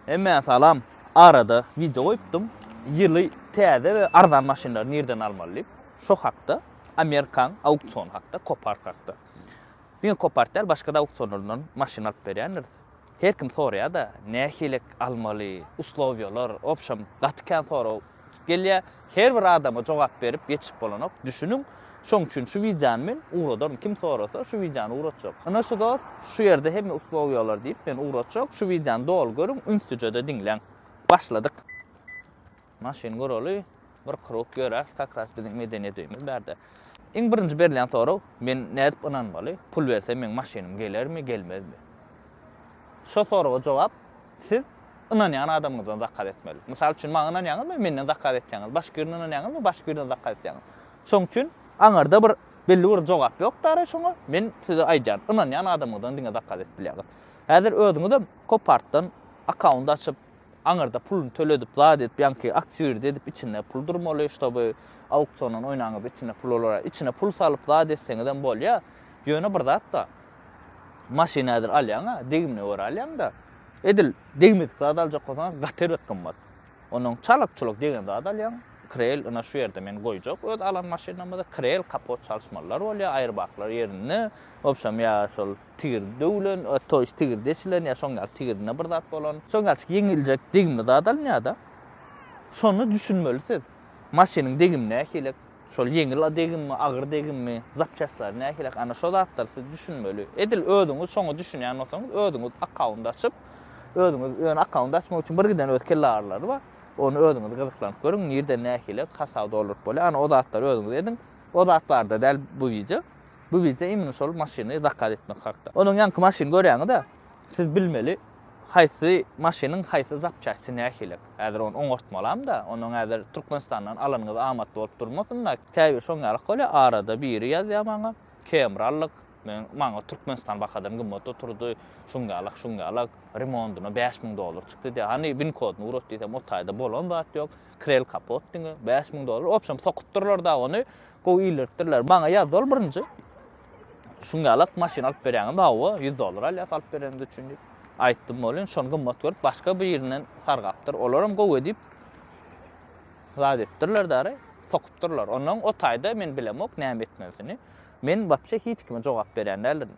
Hemmä salam. Arada wideo goýupdym. Ýyly täze we arzan maşynlary nirden almaly diýip. Şo hakda Amerikan auksiony hakda, Kopart hakda. Diňe Kopart däl, başga-da auksionlardan maşyn alyp berýändiris. Her kim soraýa-da, nähilek almaly, uslowiýalar, wobşem, gaty kän sorag. Gelýär, her bir adama jogap berip ýetişip bolanok, düşüniň. Şoň üçin şu wideony men ugradaryn, kim sorasa, şu wideony ugratjak. Ine şu dost, şu ýerde hemme uslubiýalar diýip, men ugratjak. Şu wideony doly görüň, ünslüje-de diňläň. Başladyk. Maşyny göreli, bir krug ýöräs, kakras biziň medeniýet öýümiz bärde. Iň birinji berilýän sorag, Men nädip ynanmaly, pul bersem meň maşynym gelermi, gelmezmi? Şo soraga jogap, siz ynanýan adamyňyzdan zakaz etmeli. Mysal üçin, maňa ynanýaňyzmy, menden zakaz etýäňiz, başga birine ynanýaňyzmy, başga birden zakaz etýäňiz. Şoň üçin aňyrda bir belli bir jogap ýok dara şoňa, men size aýdýan, ynanýan adamyňyzdan diňe zakaz edip bilýäňiz. Häzir özüňizem Copartdan akkaunt açyp, Aňyrda puluny töledip zat edip ýaňky aktýuirdi edip içinde pul durmaly ştoby auksiondan oýnaňyzda içinde pul bolara içine pul salyp zat etseňizem bolýa ýöne bir zat da maşyny häzir alýaňa degimine görä alýaňda edil degmedik zat aljak bolsaň gaty bir gymmat onuň çalyk çuluk degen zat alýaň krel ina şu ýerde men goýjak öz alan maşynymyzy krel kapot çalyşmalylar bolýa aýrbaklar ýerinde obşam ýa şol tigir döwlen, to ýest tigir deşilen ýa şoň ýaly tigirinde bir zat bolan, şoň ýaly ýeňiljek degimli zat alynýar-da. Şonda düşünmeli siz. Maşynyň degimi nähili? Şol ýeňil degimmi, agyr degimmi, zapçastlary nähili? Ana şo zatlar siz düşünmeli. Edil özüňiz şoňa düşünýän bolsaňyz, özüňiz akkaunt açyp, özüňiz ýöne akkaunt açmak üçin bir giden öz kelle agyrylary bar. Ony özüňiz gyzyklanyp görüň, nirden nähili hasap dolduryp bolýar. Ana o zatlary özüňiz ediň. O zat barada däl bu wideo. Bu wideo imini şol maşyny zakaz etmek hakda. Onuň ýanky maşyny görýäňizä siz bilmeli haýsy maşynyň haýsy zapçasty nähilek. Häzir ony oňartmalamda, onuň häzir Türkmenistandan alanyňyz amatly bolup durmasynda. Käbir şoň ýalak bolýar, arada biri ýazýar maňa, Camry aldyk, men maňa Türkmenistan bahadan gymmat oturdy, şuň ýalak, şuň ýalak, remondyna bäş müň dollar çykdy diýýär. Hany win kodyny ugrat diýsem o taýda bolan zat ýok, krel kapot diňe bäş müň dollar. Wobşem sokupdyrlar dagy ony, Gowy ildiripdirler. Maňa ýaz ol birinji. Şuň ýalak maşyn alyp berýäňizmi? Hawa, 100 dollar alýas alyp berenimiz üçin diýip. Aýtdym bolin, şony gymmat görüp başga birinden sargapdyr. Olaram gowy diýip zat edipdirler dary, sokupdyrlar. Ondan o taýda men bilemok näme etmelisini. Men wapşe hiç kime jogap berýän däldirin.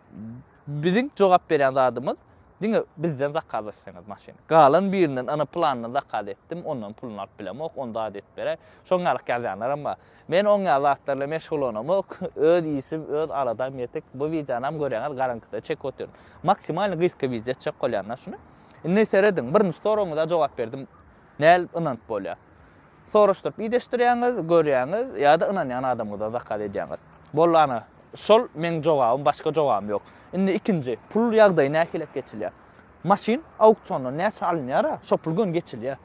Biziň jogap berýän zadymyz diňe bizden zakaz etseňiz maşyny. Galan birinden ana plandan zakaz etdim, ondan puluny alyp bilemok, ony zat edip beräý. Şoň ýalak ýazýanlaram bar. Men oň ýaly zatlar bilen meşgullanamok, öz işim, öz aladam ýetik, bu wideonam görýäňiz garaňkyda çekip otyryn. Maksimalny gysga wideo etjek bolýan da şuny. Indi serediň, birinji soragyňyza jogap berdim. Nädip ynanyp bolýar? Soraşdyryp ideşdirýäňiz, görýäňiz ýa-da ynanýan adamyňyzdan zakaz edýäňiz. Boldy ana, şol meň jogabym, başga jogabym ýok. Indi ikinji, pul ýagdaýy nähili geçilýär? Maşyn auksiondan näçe alynýar-a, şo pul göni geçilýär.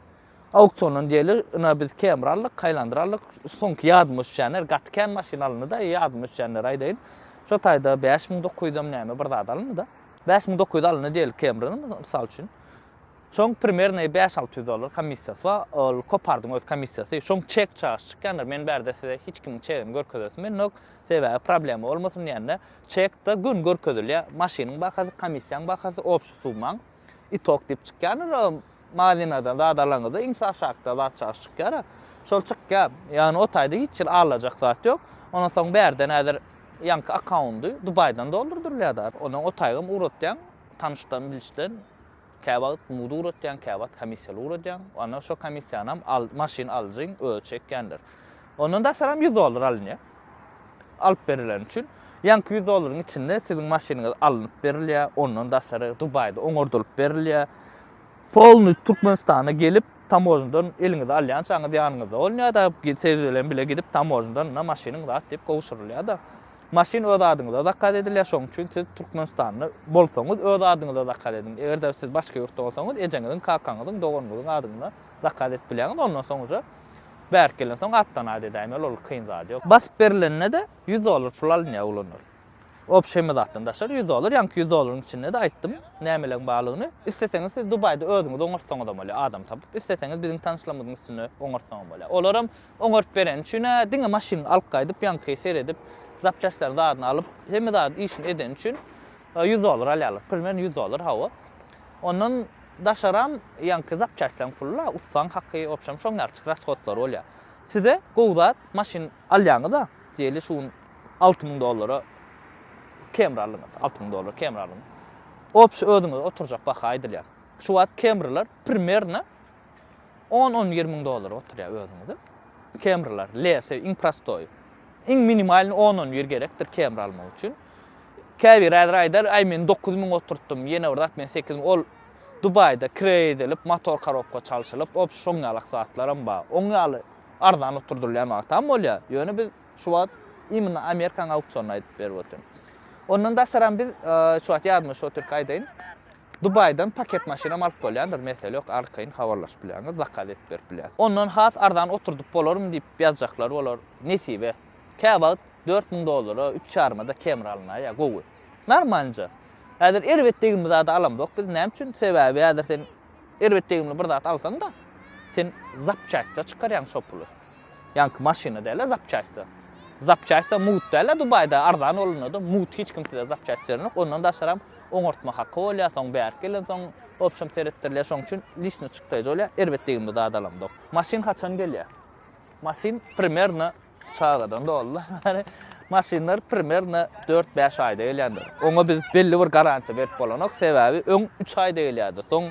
Auksiondan diýeli, ina biz kemri aldyk, kaýlandyr aldyk. Soňky ýadyma düşýänler, gaty kän maşyn alyndy-da, ýadyma düşýänleri aýdaýyn. Şo taýda bäş müň dokuz ýüzem näme bir zat alyndy-da. Bäş müň dokuz ýüz alyndy diýeli kemriniň, mysal üçin. Soň primernoý bäş-alty ýüz dollar komissiýasy bar, ol Kopardyň öz komissiýasy. Şoň çek çagyş çykýandyr, men bärde size hiç kimiň çegini görkezesim gelmok, sebäbi problema bolmasyn diýende, çek-de gün görkezilýär, maşynyň bahasy, komissiýaň bahasy, obşi summaň, itok diýip çykýandyr. Maziňizden zat alaňyzda iň aşakda zat çaşy çykýara. Şol çykýar. Ýagny o taýda hiç hili alajak zat ýok. Ondan soň bärde näzir ýaňky akkaundy Dubaýdan doldurdyrylýada. Ondan o taýgam ugratýaň tanyşdan bilişden kä wagt mudy ugratýaň kä wagt komissiýaly ugradýaň. Ondan şo komissiýanam al maşyn alyjyň özi çekýändir. Ondan daşaram ýüz dollar alynýa. alyp berileni üçin ýaňky ýüz dollaryň içinde siziň maşynyňyz alnyp berilýär, ondan daşary Dubaýda oňardylyp berilýär. Polny Türkmenistana gelip, tamožnydan eliňizi alýançaňyz ýanyňyzda bolunýar-da, siz bilen bile gidip tamožnydan ynha maşynyň zat diýip gowşurylýar-da. Maşyn öz adyňyza zakaz edilýär, şonuň üçin siz Türkmenistanda bolsaňyz öz adyňyza zakaz ediň. Eger-de siz başga ýurtda bolsaňyz, ejeňiziň, kakaňyzyň, doganyňyzyň adyna zakaz edip bilýäňiz, ondan soň uje Bärik gelensoň atdan at edäýmeli ol kyn zat ýok. Basyp berilende-de ýüz dollar pul alynýar oglanlar. Obşeýme zatdan daşary ýüz dollar, ýaňky ýüz dollaryň içinde-de aýtdym nämeleriň barlygyny. Isleseňiz siz Dubaýda özüňiz oňartsaňyzam bolýar adam tapyp, isleseňiz biziň tanyşlarymyzyň üstünde oňartsaňam bolýar. Olaram oňaryp bereni üçin-ä diňe maşynyňy alyp gaýdyp ýaňky seredip, zapçastlaryny zadyny alyp, hemme zady işini edeni üçin ýüz dollar alýarlar. Primern ýüz dollar hawa. Ondan daşaram ýaňky zapçastlaň pulla ussaň haky opşam şoň ýaly çyk rashodlary bolýar. Size gowy zat maşyn alýaňyza diýeli şu gün alty müň dollara kemri aldyňyz alty müň dollara kemri aldyňyz. Opşy özüňize oturjak baha aýdylýar. Şu wagt kemriler primerno On-on bir müň dollara oturýar özüňizi. Camry-lar, lese, iň prostoýy. Iň minimalny on-on bir gerekdir Camry almak üçin. Käbiri häzir aýdar, aý men dokuz müň oturtdym, ýene bir zat men sekiz müň, ol Dubaýda kireý edilip, motor korobka çalşylyp, op, şoň ýalak zatlaram bar. Oň ýaly arzan oturdylýan wagtam bolýar. Ýöne biz şu wagt imенно Amerikanyň auksionyny aýdyp berip otyryn. Ondan daşaram biz şu wagt ýadymda şu otyrka aýdaýyn. Dubaýdan paket maşynam alyp bolýandyr, mesele ýok, arkaýyn habarlaşyp bilýäňiz, zakaz edip berip bilýäs. Ondan has arzan oturdyp bolarmy diýip ýazjaklar bolar, nesibe. Käwagt dört müň dollara, üç ýarymada kemri alynýar, gowy. Normalnja. Häzir erbet degimli zady alamzok biz, näme üçin? Sebäbi häzir sen erbet degimli bir zat alsaň-da, sen zapçastda çykarýaň şo puly. Ýaňky maşyna dälä zapçaýsta. Zapçaýsta mugt dälä Dubaýda arzan bolanda-da mugt hiç kim size zapçaýst berenok. Ondan daşaram oňartma haky bolýar, soň bärik gelensoň obşam seretdirilýär. Şoň üçin lişni çykdaýjy bolýar. Erbet degimli zat alamzok. Maşyn haçan gelýär? Maşyn primerno çagadan dolundan bäri maşynlar primerno dört-bäş aýda gelýändir. Oňa biz belli bir garantiýa berip bolanok, sebäbi öň üç aýda gelýärdi. Soň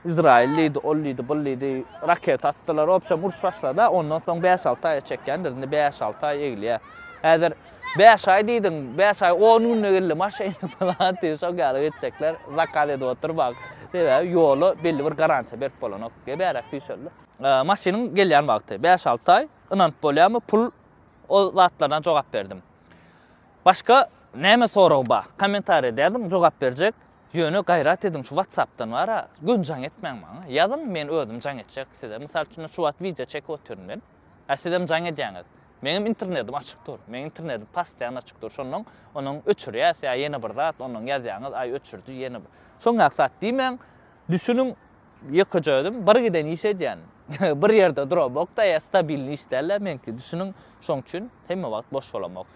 Izraýyl diýdi, ol diýdi, bul diýdi, raketa atdylar, obşem uruş başlady-a, ondan soň bäş-alty aýa çekýändir, indi bäş-alty aý egilýär. Häzir bäş aý diýdiň, bäş aý on günde geldi maşyny falan diýip şol ýaly geçjekler, zakaz edip otur bak. Sebäbi ýola belli bir garantiýa berip bolanok, gebärek süýşeldi. Maşynyň gelýän wagty, bäş-alty aý, ynanyp bolýarmy, pul, ol zatlardan jogap berdim. Başga näme sorag bar? Kommentariýa dädin, jogap berjek, Ýöne gaýrat ediň şu watsapdan bara göni jaň etmäň maňa ýazyň men özüm jaň etjek size mysal üçin şu wagt wideo çekip otyryn men a sizem jaň edýäňiz meňem internetim açyk dur meň internetim pastoýan açyk dur şondan onuň öçürýäs ýa ýene bir zat ondan ýazýaňyz aý öçürdi ýene bir şoňňak zat diýmäň düşüniň ýekeje özüm bir giden iş edýän bir ýerde duramok da ýa stabilni iş dälä meňki düşüniň şoň üçin hemme wagt boş bolamok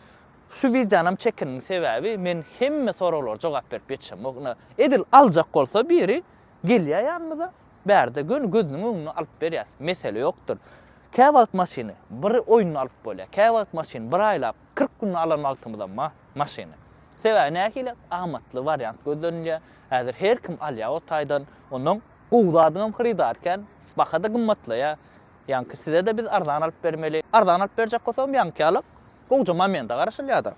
Şu wideonam çekindim sebäbi men hemme soraglara jogap berip ýetişemok ine edil aljak bolsa biri gelýä ýanymyza bärde göni gözüniň öňüne alyp berýäs mesele ýokdyr kä wagt maşyny bir oýunda alyp bolýa kä wagt maşyny bir aýlap kyrk günde alan wagtymyzam bar maşyny sebäbi nähili amatly wariant gözlenilýä häzir her kim alýa o taýdan ondan gowy zadyňam hyrydar kän bahada gymmatlaýa ýaňky sizede biz arzan alyp bermeli arzan alyp berjek bolsagam ýaňky ýalyk Gowja momente garaşylýar-da.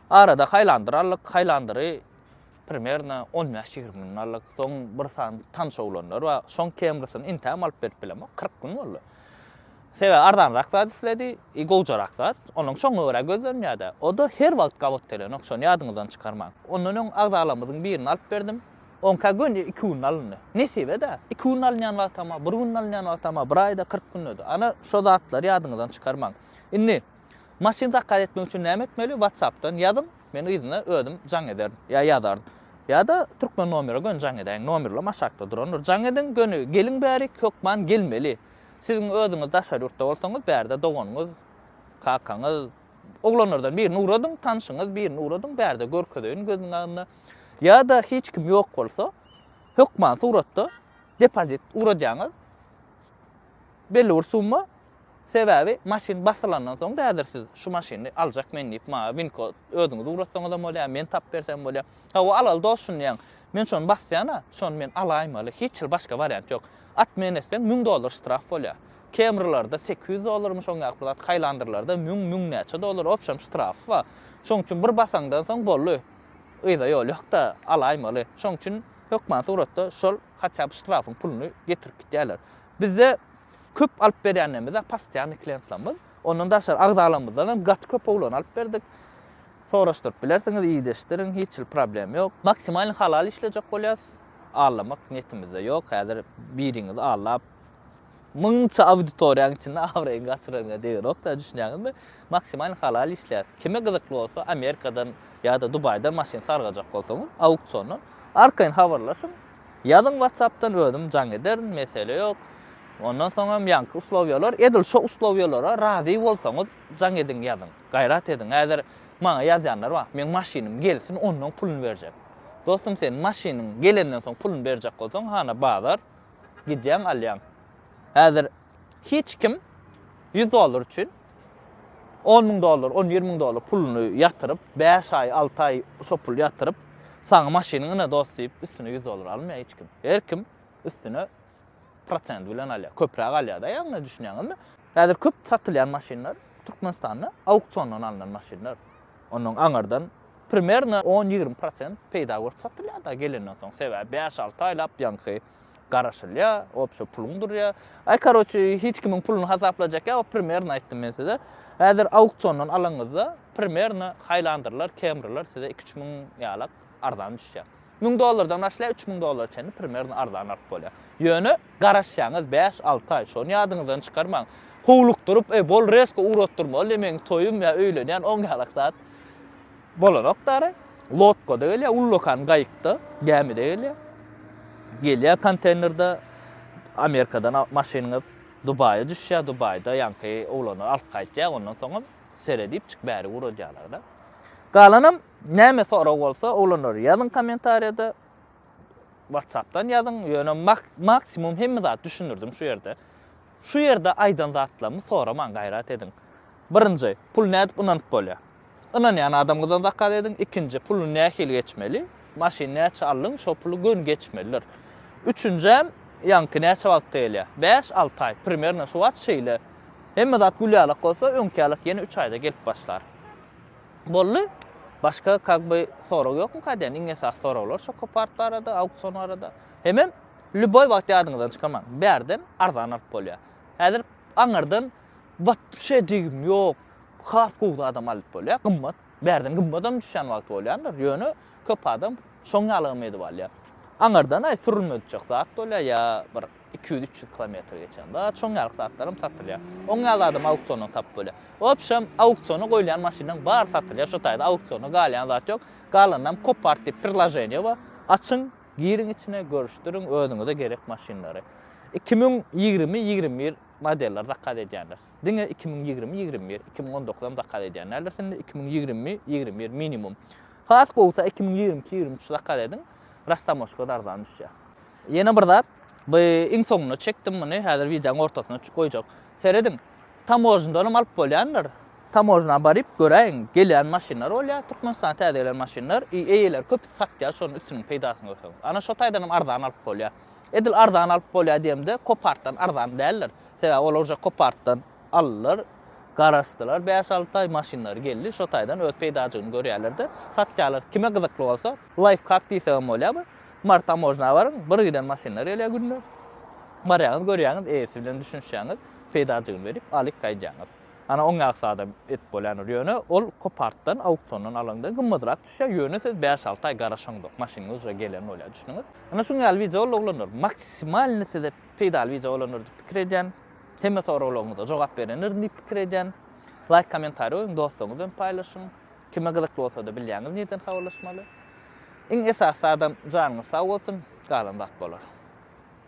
Arada haýlandyr aldyk, haýlandyry primerno on bäş, ýigrimi gün aldyk. Soň bir sany tanyş oglanlar bar. Şoň kemrisini intägem alyp berip bilemok, kyrk gün boldy. Sebäbi arzanrak zat isledi, i gowjarak zat. Onuň şoňa görä gözlenýär-de. O-da her wagt gabat gelenok, şony ýadyňyzdan çykarmaň. Ondan öň agzalarymyzyň birini alyp berdim. Oňka göni iki günde alyndy. Nesibe-dä. Iki günde alynýan wagtam bar, bir günde alynýan wagtam bar, bir aýda, kyrk günde-de. Ana, şo zatlary ýadyňyzdan çykarmaň. Indi maşyn zakaz etmek üçin näme etmeli watsapdan ýazyň men yzyna özüm jaň ederin ýa ýazaryn ýa-da türkmen nomere göni jaň edäýiň nomerlem aşakda durandyr jaň ediň göni geliň bärik hökman gelmeli siziň özüňiz daşary ýurtda bolsaňyz bärde doganyňyz kakaňyz oglanlardan birini ugradyň tanşyňyz birini ugradyň bärde görkezeýin gözüniň agynda ýa-da hiç kim ýok bolsa hökman suratda depozit ugradýaňyz belli bir summa Sebäbi maşyn basylandan soň da häzir siz şu maşyny aljak men diýip maňa winko özüňiz ugratsaňyzam bolýar, men tapyp bersem bolýar. Hawa alaly dost şuny diýýän. Men şony basýan-a, şony men alaýmaly, hiç hili başga wariant ýok. Atmen etseň müň dollar ştraf bolýar. Camry-larda sekiz ýüz dollarmy şoň ýaly pul at, Highlander-larda müň, müň näçe dollar opşam ştrafy bar. Şoň üçin bir basaňdan soň boldy. Yza ýol ýok-da, alaýmaly. Şoň üçin hökman suratda şol hatýa-da ştrafyň puluny getirip gitýärler. Bizde köp alyp berýänlerimiz-ä possioanny klientlerimiz. Ondan daşary agzalarymyzdan hem gaty köp owlany alyp berdik. Soraşdyryp bilersiňiz, ideshdirin, hiç hil problem ýok. Maksimalny halal işlejek bolýas. Allamak niýetimizde ýok. Häzir biriňizi allap, müňçe auditoriýanyň içinde abraýyňy gaçyraryňa degerokda, düşünýäňizmi? Maksimalny halal işleýäs. Kime gyzykly bolsa, Amerikadan ýa-da Dubaýdan maşyn sargajak bolsaňyz, auksiondan, arkaýyn habarlaşyň, Ýazyň WhatsAppdan özüm jaň ederin mesele ýok. Ondan soňam ýaňky uslowýalar edil şo uslowýalara razy bolsaňyz jaň ediň ýazyň. Gaýrat ediň häzir maňa ýazýanlar bar. Meň maşynym gelsin onnoň pulyny berjek. Dostum sen maşynyň gelenden soň pulyny berjek bolsaň hana bazar gidýäň alýaň. Häzir hiç kim 100 dollar üçin On müň dollar, on ýigrimi müň dollar puluny ýatyryp, bäş aý, alty aý şo puly ýatyryp, saňa maşynyňy ynha dost diýip, üstüne ýüz dollar almaýar hiç kim. Her kim üstüne prosent bilen alýar. Köpräk alýar-da ýagny, düşünýäňizmi? Häzir köp satylýan maşynlar Türkmenistanda auksiondan alnan maşynlar. Ondan aňyrdan primerno on-ýigrimi prosent peýda görüp satylýar-da gelenden soň. Sebäbi bäş-alty aýlap ýaňky garaşylýar, obşa puluň durýar. Aý, karoçi, hiç kimiň puluny hasaplajak ýok, primerno aýtdym men size. Häzir auksiondan alaňyzda, primerno haýlandyrlar, kemriler size iki üç müň ýalak arzan düşýär. Müň dollardan başlaýar, üç müň dollara çenli primerno arzan alyp bolýar. Ýöne garaşýaňyz bäş-alty aý, şony ýadyňyzdan çykarmaň. Howlukdyryp, e, bol, resko ugratdyrmaly, meň toýum ýa öýlenýän, oň ýalak zat. Bolanok dary. Lodkada gelýär, ullakan gaýykda, gämide gelýär. Gelýär konteýnerde Amerikadan maşynyňyz Dubaýa düşýär, Dubaýda ýaňky oglany alyp gaýtýar, ondan soňam sere diýipjik bäri guradýarlar-da. Galanam näme sorag bolsa, oglanlar ýazyň kommentariýada, WhatsApp-dan ýazyň, ýöne maksimum hemme zady düşündirdim şu ýerde. Şu ýerde aýdan zatlarymy soraman gaýrat ediň. Birinji, pul nädip ynanyp bolýar? Ynanýan adamyňyzdan zakaz ediň. Ikinji, puly nähili geçmeli? Maşyn näçe aldyň, şo puly göni geçmelidir. Üçünjem, ýaňky näçe wagtda gelýär? Bäş, alty aý. Primerno şu wagt şeýle. Hemme zat gül ýalak bolsa, öňki ýalak ýene üç aýda gelip başlar. Boldy. Başga kak by sorag ýokmyka diýen iň esasy soraglar şo kopart barada, auksion barada. Hemem Lýuboý wagt ýadyňyzdan çykarmaň. Bärden arzan alyp bolýar. Häzir aňyrdan wapşe degim ýok, has gowy zadam alyp bolýar, gymmat. Bärden gymmadam düşýän wagty bolýandyr, ýöne köp adam şoň ýalygam edip alýar. Aňyrdan-aý sürülmejek zat bolýar ýa bir iki ýüz, üç ýüz kilometr geçen zat, şoň ýaly zatlaram satylýar. Oň ýaly zadam auksiondan tapyp bolýar. Wapşem auksiona goýulýan maşynlaryň bary satylýar, şu taýda auksiona galýan zat ýok. Galanynam kopart diýip prirlaženiýe bar, açyň, Giriň içine görüşdiriň özüňize gerek maşynlary. Iki müň ýigrimi ýigrimi bir modeller zakaz edýänler. Diňe iki müň ýigrimi ýigrimi bir, iki müň on dokuzam zakaz edýän däldir şimdi iki müň ýigrimi ýigrimi bir minimum. Has gowusy iki müň ýigrimi iki ýigrimi üç zakaz ediň. Rastamoşka arzan düşýär. Ýene bir zat, bu iň soňuna çekdim muny, häzir wideonyň ortasyna goýjak. Serediň, Tamožnydanam alyp bolýandyr. Tamožna baryp göräýiň, gelýän maşynlar bolýar, Türkmenistana täze gelen maşynlar, i eýeleri köpüsi satýar, şonuň üstüniň peýdasyny görseňiz. Ana şo taýdanam arzan alyp bolýar. Edil arzan alyp bolýar diýemde, Kopartdan arzan däldir. Sebäbi olar uje Kopartdan aldylar, garaşdylar bäş-alty aý, maşynlary geldi, şo taýdan öz peýdajygyny görýärler-de, satýarlar. Kime gyzykly bolsa, laýfhak diýsegem bolýar bu. Mary Tamožna baryň, bir giden maşynlar gelýär günde. Barýaňyz, görýäňiz, eýesi bilen düşünişýäňiz. peýdajygyny berip, alyp gaýdýaňyz. Ana, oň ýaly sada edip bolýandyr. Ýöne ol kopartdan, auksiondan alanda gymmadyrak düşýär, ýöne siz bäş-alty aý garaşaňyzok, maşynyňyz uje gelen bolýar, düşdüňiz. Ana, şuň ýaly wideo boldy, oglanlar. Maksimalny size peýdaly wideo bolandyr diýip pikir edýän. Hemme soraglaryňyza jogap berendirin diýip pikir edýän. Laýk, kommentariý goýuň, dostlaryňyz bilen paýlaşyň. Kime gyzykly bolsa-da bilýäňiz nireden habarlaşmaly. Iň esasy zadam janyňyz sag bolsun, galan zat bolar.